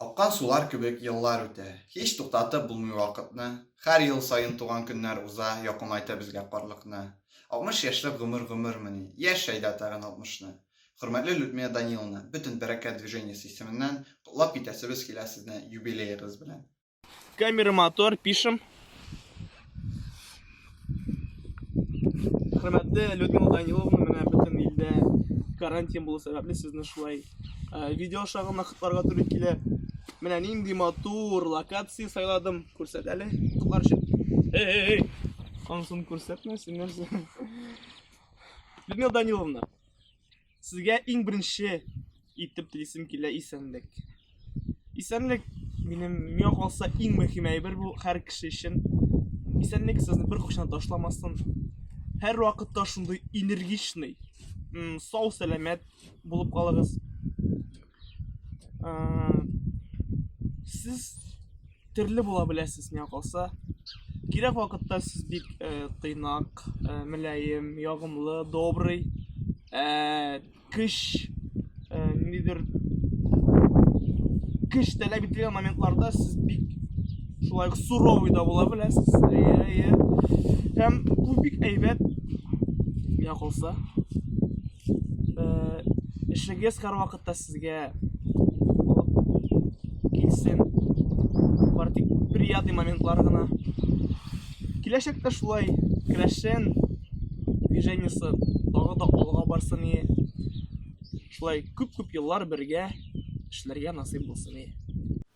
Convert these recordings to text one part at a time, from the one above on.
Аккан сулар кебек еллар үтә, Һич туктатып булмый вакытны. Хәр ел саен туган көннәр уза, Якынайта безгә карлыкны. Алтмыш яшьлек гомер гомермени, Яшь әйдә тагын алтмышны. Хөрмәтле Людмила Даниловна, бөтен Бәрәкәт движениесе исеменнән котлап китәсебез килә сезне юбилеегыз белән! Камера, мотор, пишем. Хөрмәтле Людмила Даниловна, менә бөтен илдә карантин булу сәбәпле сезне шулай э, видео аша гына котларга туры килә. Менә нинди матур локация сайладым. Күрсәт әле котлар өчен. Эй, эй, эй. Ансын күрсәтмәсен нәрсә. Людмила Даниловна, Сезгә иң беренче итеп телисем килә исәнлек. Исәнлек минем миңа калса иң мөһим әйбер бу һәр кеше өчен. Исәнлек сезне бер кошан ташламасын. Һәр вакытта шундый энергичный, сау сәламәт булып калыгыз. сез төрле була беләсез миңа калса кирәк вакытта сез бик э, тыйнак э, мөлаем ягымлы добрый э, кыш э, нидер кыш таләп ителгән моментларда сез бик шулай ук суровый да була беләсез әйе һәм бу бик әйбәт миңа калса Эшлегез һәрвакытта сезгә килсен. Бар тик приятный моментлар гына. Киләчәктә шулай крәшен движениесе тагы да алга барсын и шулай күп-күп еллар бергә эшләргә насыйп булсын и.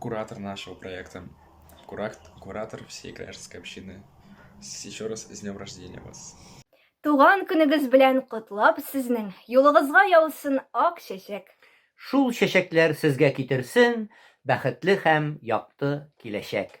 куратор нашего проекта куракт куратор всей кряжской общины с еще раз с днем рождения вас Туган көнегез белән котлап сезнең юлыгызга яусын ак чәчәк. Шул чәчәкләр сезгә китерсен бәхетле һәм якты киләчәк.